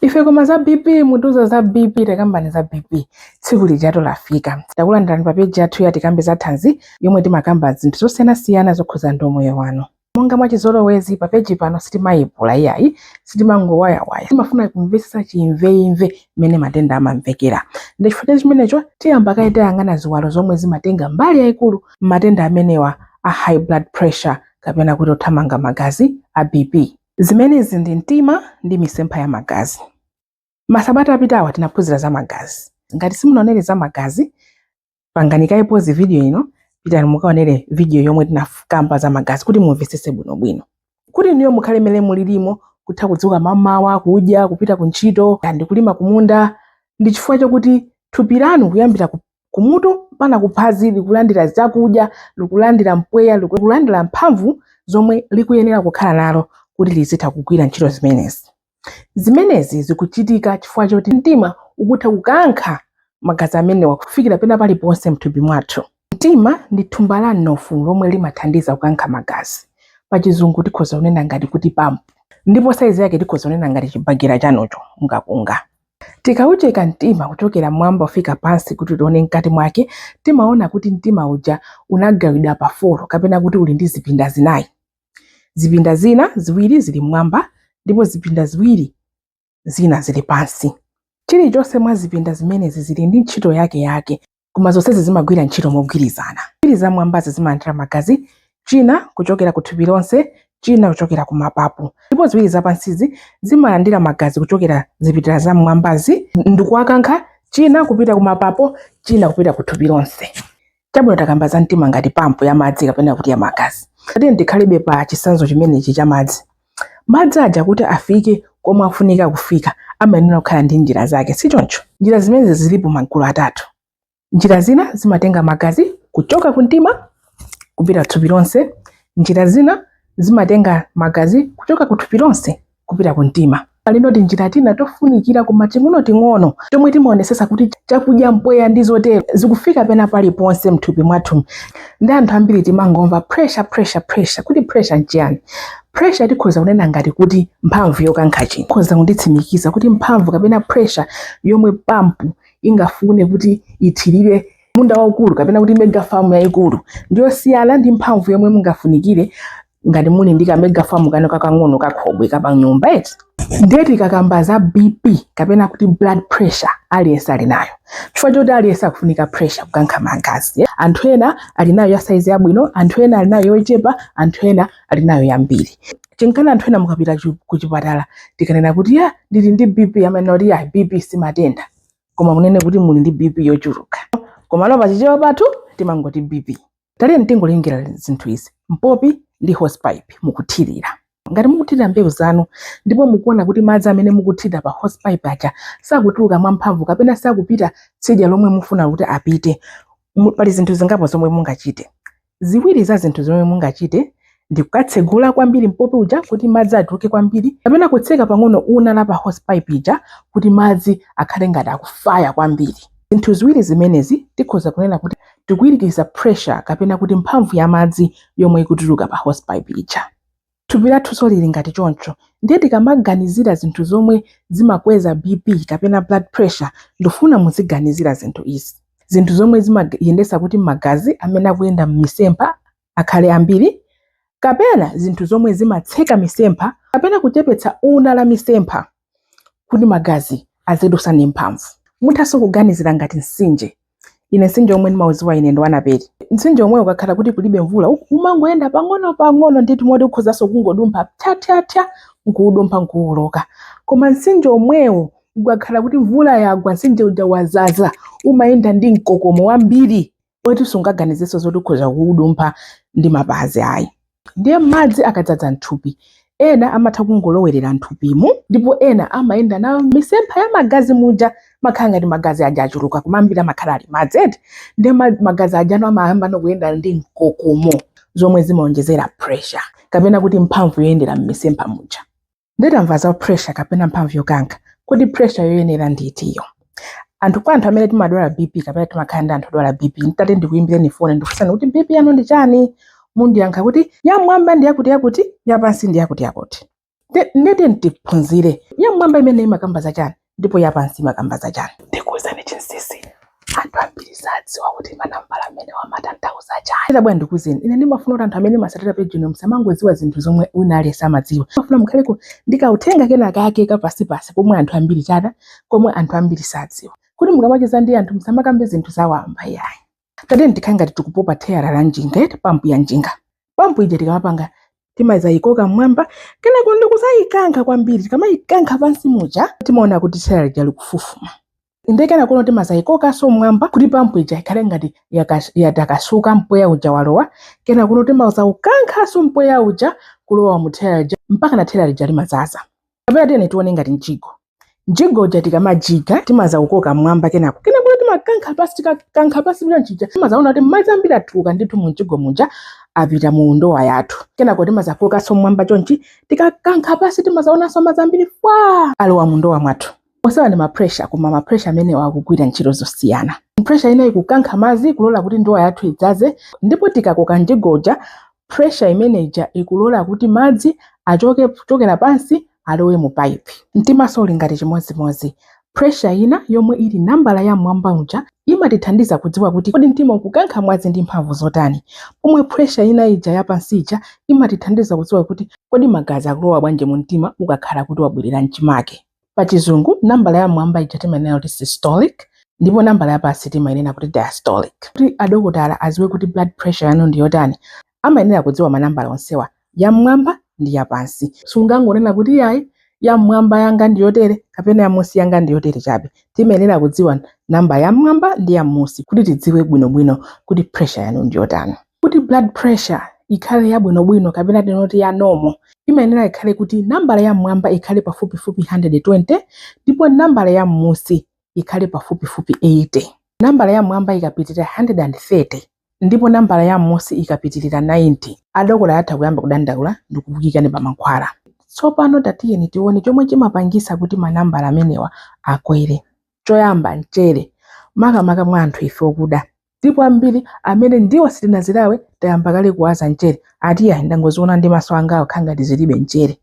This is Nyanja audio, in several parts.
ife koma za bp mutiuza za bp takambani za bp tsiku lijatu lafika takulandirani pa peji yathu ya tikambe za thanzi yomwe timakamba zinthu zosiyanasiyana zokhuza ndi umoyo wanu monga mwachizolowezi pa peji pano sitimayipula iyayi sitimangowayawaya timafuna kumvetsetsa chimveimve mmene matenda amamvekera ndi chifukwa cha chimenecho tiyamba kaye kuyang'ana ziwalo zomwe zimatenga mbali yayikulu m'matenda amenewa a high blood pressure kapena kuti othamanga magazi a bp Zimenezi ndi mtima ndi misempha ya magazi. Masabata apitawa tinaphunzira za magazi. Ngati simunaonere za magazi, pangani kaye pause video ino, pitani mukaonere video yomwe tinakamba za magazi kuti mumvetsetse bwinobwino. Kuti inuyo mukhale mmene mulilimo, kutha kudzuka mamawa, kudya, kupita ku ntchito, ndi kulima kumunda, ndi chifukwa chakuti thupi lanu kuyambira ku kumutu mpaka kuphazi likulandira zakudya likulandira mpweya likulandira mphamvu zomwe likuyenera kukhala nalo kuti lizitha kugwira ntchito zimenezi zimenezi zikuchitika chifukwa choti mtima ukutha kukankha magazi amenewa kufikira pena paliponse mthupi mwathu mtima ndi thumba la mnofu lomwe limathandiza kukankha magazi pachizungu tikhoza kunena ngati kuti pampu ndipo saizi yake tikhoza kunena ngati chibagera chanucho mukakunga Tikaucheka mtima kuchokera m'mwamba kufika pansi kuti tione mkati mwake, timaona kuti mtima uja unagawidwa pa 4 kapena kuti uli ndi zipinda zinayi. Zipinda zina ziwiri zili m'mwamba ndipo zipinda ziwiri zina zili pansi. Chilichonse mwa zipinda zimenezi zili ndi ntchito yake yake. koma zonsezi zimagwira ntchito mogwirizana ziwiri za mwambazi zimalandira magazi china kuchokera ku thupi lonse china kuchokera ku mapapo ndipo ziwiri zapansizi zimalandira magazi kuchokera zipinda za mwambazi ndikuwakankha china kupita ku mapapo china kupita ku thupi lonse chabwino takamba za mtima ngati pampu ya madzi kapena kuti ya magazi tatiyeni tikhalebe pa chisanzo chimenechi cha madzi Madzi aja kuti afike komwe afunika kufika amayenera kukhala ndi njira zake, si choncho? Njira zimenezi zilipo magulu atatu. Njira zina zimatenga magazi kuchoka ku mtima kupita thupi lonse, njira zina zimatenga magazi kuchoka ku thupi lonse kupita ku mtima. Palinso tinjira tina tofunikira koma ting'onoting'ono tomwe timaonesesa kuti chakudya, mpweya ndi zotero zikufika pena paliponse mthupi mwathu. Ndi anthu ambiri timangomva pressure, pressure, pressure. Kodi pressure nchiyani? Pressure tikhoza kunena ngati kuti mphamvu yokankha chinthu. Mukhoza kunditsimikiza kuti mphamvu kapena pressure yomwe pump ingafune kuti ithirire munda waukulu kapena kuti mega farm yaikulu ndiyosiyana ndi mphamvu yomwe mungafunikire ngati muli ndi kamegafamu kano kakang'ono kakhobwe kapanyumba eti ndiye tikakamba za bp kapena kuti blood pressure aliyense ali nayo chifukwa choti aliyense akufunika pressure kukankha magazi eh? anthu ena ali nayo ya saizi yabwino anthu ena ali nayo yochepa anthu ena ali nayo yambiri chinkana anthu ena mukapita chu- kuchipatala tikanena kuti ya ndili ndi bp amanena kuti ya bp simatenda koma munena kuti muli ndi bp yochuluka komano pachichewa pathu timangoti bp taleke nditengere zinthu izi mpopi ndi hosepipe mukuthirira ngati mukuthirira mbewu zanu ndipo mukuona kuti madzi amene mukuthirira pa hosepipe aja sakutuluka mwamphamvu kapena sakupita tsidya lomwe mufuna kuti apite pali zinthu zingapo zomwe mungachite ziwiri za zinthu zomwe mungachite ndi kukatsegula kwambiri mpopi uja kuti madzi atuluke kwambiri kapena kutseka pang'ono una wa pa hosepipe ija kuti madzi akhale ngati akufaya kwambiri zinthu ziwiri zimenezi tikhoza kunena kuti tikuwirikiza pressure kapena kuti mphamvu ya madzi yomwe ikutuluka pa hosepipe ija thupi lathunso lili ngati choncho ndiye tikamaganizira zinthu zomwe zimakweza bp kapena blood pressure ndifuna muziganizira zinthu izi zinthu zomwe zimayendetsa kuti magazi amene akuyenda m'misempha akhale ambiri, kapena zinthu zomwe zimatseka misempha kapena kuchepetsa una la misempha kuti magazi azidutsa ndi mphamvu. Muthanso kuganizira ngati mtsinje. Ine mtsinje omwe ndimaudziwa ine ndi wa Naperi. Mtsinje omwe ukakhala kuti kulibe mvula u- umangoyenda pang'ono pang'ono ndithu moti ukhozanso kungodumpha ptyatyatya nkuudumpha nkuwoloka. Koma mtsinje omwewo ukakhala kuti mvula yagwa mtsinje uja wadzaza umayenda ndi mkokomo wambiri oti sungaganizenso zoti ukhoza kuudumpha ndi mapazi ayi ndiye madzi akadzaza mthupi ena amatha kungolowerera mthupimo ndipo ena amayenda nawo m'misempha ya magazi muja amakhala ngati magazi aja achuluka koma ambiri amakhala ali madzi eti ndiye ma- magazi aja no amayamba no kuyenda ndi mkokomo zomwe zimaonjezera pressure kapena kuti mphamvu yoyendera m'misempha muja ndiye tamva za pressure kapena mphamvu yokankha kodi pressure yoyenera ndi itiyo anthu kwa anthu amene timadwala bp kapena timakhala ndi anthu odwala bp nditati ndikuyimbireni foni ndikufunseni kuti bp yanu ndi chani mundiyankha kuti yamwamba ndi yakuti yakuti yapansi ndi yakuti yakuti Nde- ndiyeti tiphunzire yamwamba imeneyi imakamba za chani ndipo yapansi imakamba za chani ndikuuzani chinsisi anthu ambiri sadziwa kuti manambala amenewa amatanthauza chani ita bwana ndikuuzeni ine ndimafuna kuti anthu amene mumatsatira page ino musamangodziwa zinthu zomwe wina aliyense amadziwa ndimafuna mukhaleko ndi kauthenga kena kake kapansipansi komwe anthu ambiri chata komwe anthu ambiri sadziwa kuti mukamacheza ndi anthu musamakambe zinthu zawamba yayi tatiyeni tikhale ngati tikupopa theyala la njinga eti pampu ya njinga pampu ija tikamapanga timayikoka mmwamba kenako ndikuzayikankha kwambiri tikamayikankha pansi muja timaona kuti theyala lija likufufuma inde kenako timazayikokanso mmwamba kuti pampu ija ikhale ngati yakas- yatakasuka mpweya uja walowa kenako timazawukankhanso mpweya uja kulowa mu theyala lija mpaka na theyala lija limazaza kapena tiyeni tione ngati mjigo mjigo uja tikamajiga timazaukoka mmwamba kenako kenako timakankha pasi tikakankha pasi chonchija timazaona kuti madzi ambiri atuluka ndithu mu mjigo muja apita mu ndowa yathu kenako timazakokanso mmwamba chonchi tikakankha pasi timazaonanso madzi ambiri fwa alowa mu ndowa mwathu Onsewa ndi mapresha koma mapresha amenewa akugwira ntchito zosiyana. Presha ina ikukankha madzi kulola kuti ndowa yathu idzaze ndipo tikakoka mjigo uja presha imeneja ikulola kuti madzi achoke kuchokera pansi alowe mu pipe. Mtimanso uli ngati chimodzimodzi. Presha ina yomwe ili nambala ya mmwamba uja imatithandiza kudziwa kuti kodi mtima ukukankha mwazi ndi mphamvu zotani, pomwe presha ina ija yapansi ija imatithandiza kudziwa kuti kodi magazi akulowa bwanji mu mtima ukakhala kuti wabwerera m'chimake. pa chizungu nambala ya mwamba ija timanena kuti systolic ndipo nambala ya pansi timanena kuti diastolic kuti adokotala aziwe kuti blood pressure yanu ndi yotani amayenera kudziwa manambala onsewa ya mmwamba ndi ya pansi sungangonena kuti yayi ya mmwamba yanga ndi yotere kapena ya munsi yanga ndi yotere chabe timayenera kudziwa namba ya mmwamba ndi ya munsi kuti tidziwe bwinobwino kuti pressure yanu ndi yotani Kuti blood pressure ikhale yabwinobwino kapena tinoti ya normal, imayenera ikhale kuti nambala ya m'mwamba ikhale pafupifupi 120 ndipo nambala ya m'munsi ikhale pafupifupi 80. Nambala ya m'mwamba ikapitirira 130 ndipo nambala ya m'munsi ikapitirira 90, adokotala atha kuyamba kudandaula ndi kukuikani pa mankhwala. Tsopano tatiyeni tione chomwe chimapangitsa kuti manambala amenewa akwere. Choyamba, mchere, makamaka mwa anthu ife okuda. ndipo ambiri amene ndiwo sitinazilawe tayamba kale kuwaza mchere ati yayi ndangoziona ndi maso anga awa zikukhala ngati zilibe mchere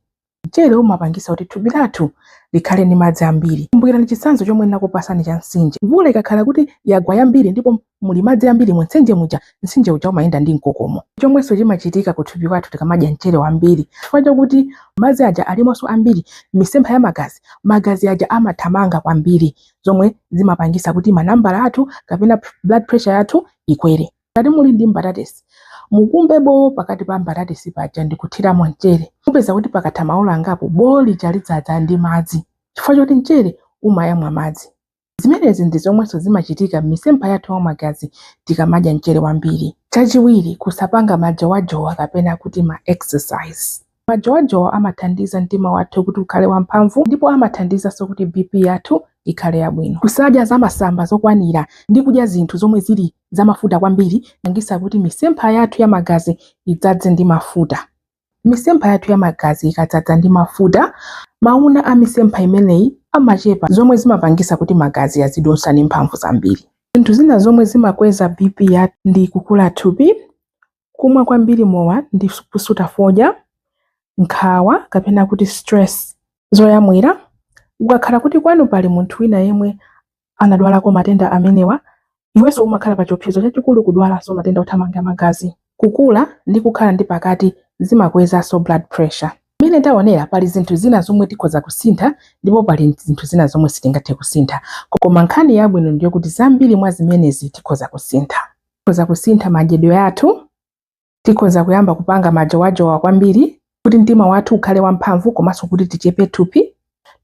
mchere umapangisa kuti thupi lathu likhale ndi madzi ambiri kumbukirani chitsanzo chomwe ndinakupasani cha msinje mvula ikakhala kuti yagwa yambiri ndipo muli madzi ambiri mu mtsinje muja msinje uja umayenda ndi mkokomo chomwenso chimachitika ku thupi kwathu tikamadya mchere wambiri chifukwa chakuti madzi aja alimonso ambiri m'misempha ya magazi magazi aja amathamanga kwambiri zomwe zimapangisa kuti manambala athu kapena blood pressure yathu ikwere ngati muli ndi mbatatesi mukumbe bowo pakati pa mbatatesi paja ndikuthiramo mchere mupeza kuti pakatha maola angapo bowo lija lidzadza ndi madzi chifukwa choti mchere umayamwa madzi zimenezi ndi zomwenso zimachitika m'misempha yathu ya magazi tikamadya mchere wambiri chachiwiri kusapanga majowajowa kapena kuti ma exercise Majowajowa amathandiza mtima wathu kuti ukhale wamphamvu ndipo amathandizanso kuti BP yathu ikhale yabwino. Kusadya zamasamba zokwanira ndi kudya zinthu zomwe zili zamafuta kwambiri zimapangitsa kuti misempha yathu ya magazi idzadze ndi mafuta. Misempha yathu ya magazi ikadzadza ndi mafuta, mauna a misempha imeneyi amachepa zomwe zimapangitsa kuti magazi azidutsa ndi mphamvu zambiri. Zinthu zina zomwe zimakweza BP yathu ndi kukula thupi, Kumwa kwambiri mowa ndi kusuta fodya, nkhawa kapena kuti stress. Zoyamwira, Ukakhala kuti kwanu pali munthu wina yemwe anadwalako matenda amenewa, iwenso umakhala pa chiopsezo chachikulu kudwalanso matenda othamanga magazi. Kukula ndi kukhala ndi pakati zimakwezanso blood pressure. Mmene taonera, pali zinthu zina zomwe tikhoza kusintha ndipo pali zinthu zina zomwe sitingathe kusintha. Koma nkhani yabwino ndi yokuti zambiri mwa zimenezi tikhoza kusintha. tikhoza kusintha madyedwe athu, tikhoza kuyamba kupanga majowajowa kwambiri kuti mtima wathu ukhale wamphamvu komanso kuti tichepe thupi,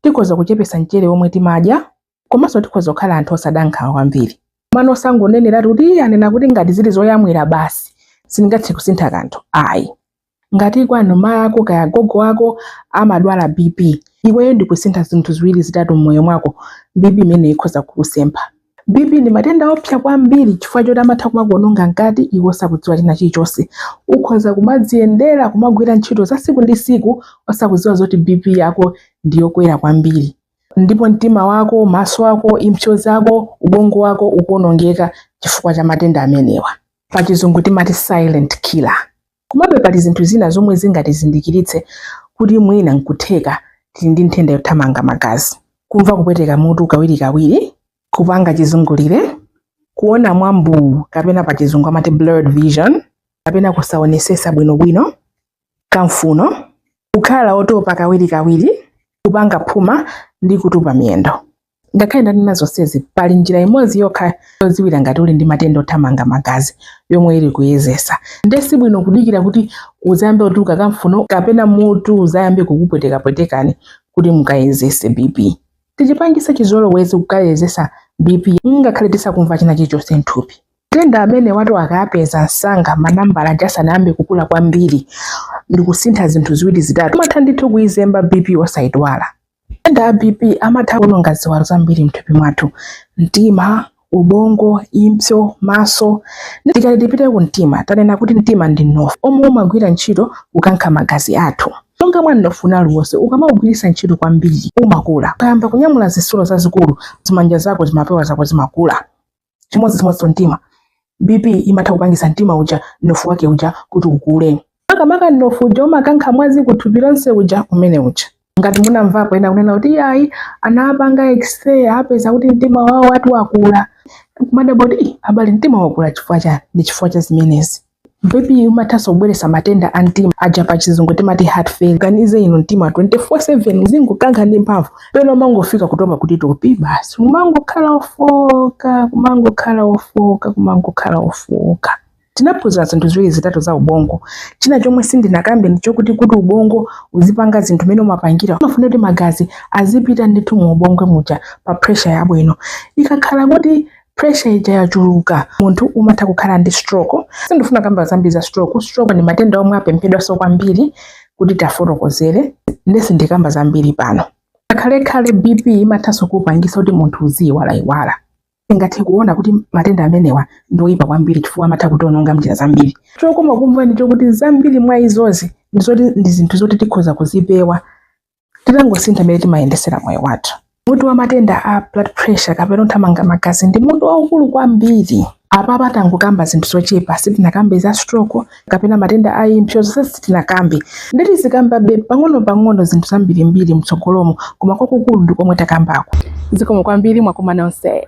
tikhoza kuchepesa mchere womwe timadya komanso tikhoza kukhala anthu osada nkhawa kwambiri. Nde osangoneneratu kuti anena kuti ngati zili zoyamwira basi sindingathe kusintha kanthu ayi. Ngati kwanu mayi ako kaya gogo ako amadwala BP, iweyo ndi kusintha zinthu ziwiri zitatu m'moyo mwako, BP imeneyo ikhoza kukusempha. BP ndi matenda oopsa kwambiri chifukwa choti amatha kumakuwononga mkati iwe osakudziwa china chilichonse. Ukhoza kumadziyendera, kumagwira ntchito za tsiku ndi tsiku osakudziwa zoti BP yako ndi yokwera kwambiri. Ndipo mtima wako, maso ako, impso zako, ubongo wako ukuwonongeka chifukwa cha matenda amenewa. Pachizungu timati silent killer. Komabe pali zinthu zina zomwe zingatizindikiritse kuti mwina n'kutheka tili ndi nthenda yothamanga magazi. Kumva kupweteka mutu kawirikawiri, kupanga chizungulire, kuona mwa mbuu kapena pachizungu amati blurred vision, kapena kusaonesesa bwinobwino, kamfuno, kukhala otopa kawirikawiri, kupanga phuma, ndi kutupa miyendo. ngakhale ndanena zonsezi pali njira imodzi yokha yodziwira ngati uli ndi matenda othamanga magazi yomwe ili kuyezesa nde si bwino kudikira kuti uzayambe kutuluka kamfuno kapena mutu uzayambe kukupwetekapweteka ndi kuti mukayezese bp tichipangise chizolowezi kukayezesa bp ngakhale tisakumva china chilichonse nthupi matenda amenewatu akapezeka msanga manambala aja asanayambe kukula kwambiri ndikusintha zinthu ziwiri zitatu umatha ndithu kuizemba bp osayidwala Matenda a BP amatha kuononga ziwalo zambiri m'thupi mwathu, mtima, ubongo, impso, maso. Tikati tipite ku mtima, tanena kuti mtima ndi mnofu omwe umagwira ntchito kukankha magazi athu. Monga mwa mnofu wina uliwonse, ukamaugwiritsa ntchito kwambiri umakula. Ukayamba kunyamula zitsulo zazikulu, zimanja zako, zimapewa zako zimakula. chimodzimodzi mtima bp imatha kupangisa mtima uja mnofu wake uja kuti ukule makamaka mnofu uja umakankha mwazi kuthupi lonse uja umene uja ngati munamvapo ena kunena kuti ayi anapanga x-ray apeza kuti mtima wawo ati wakula kumadabwa kuti abale mtima wakula chifukwa chani ndi chifukwa cha zimenezi BP imathanso kubweretsa matenda a mtima aja pa chizungu timati heart failure. Ganize inu mtima 24/7 uzingokankha ndi mphamvu pena umangofika kutopa kuti topi basi kumangokhala ofoka kumangokhala ofoka kumangokhala ofoka tinaphunzira zinthu ziwiri zitatu za ubongo china chomwe sindinakambe ndi chokuti kuti ubongo uzipanga zinthu mene umapangira umafuna kuti magazi azipita ndithu mu ubongo muja pa pressure yabwino ikakhala kuti Pressure ija yachuluka munthu umatha kukhala ndi stroke. Sindifuna kukamba zambiri za stroke. Stroke ndi matenda omwe apemphedwanso kwambiri kuti tafotokozere nde sindikamba zambiri pano. Pokhalekhale BP imathanso kupangisa kuti munthu uziyiwalayiwala. Tingathe kuona kuti matenda amenewa ndi oyipa kwambiri chifukwa amatha kutiononga mnjira zambiri. Chokoma kumva ndi chokuti zambiri mwa izozi ndi zoti ndi zinthu zoti tikhoza kuzipewa titangosintha mmene timayendesera moyo wathu mutu wa matenda a blood pressure kapena othamanga magazi ndi mutu waukulu kwambiri apapa tangokamba zinthu zochepa sitinakambe za stroke kapena matenda a impsyo zonse sitinakambe nde tizikambabe pang'ono-pang'ono zinthu zambirimbiri mtsogolomo koma kwakukulu ndi komwe takambako zikomo kwambiri mwakumana onse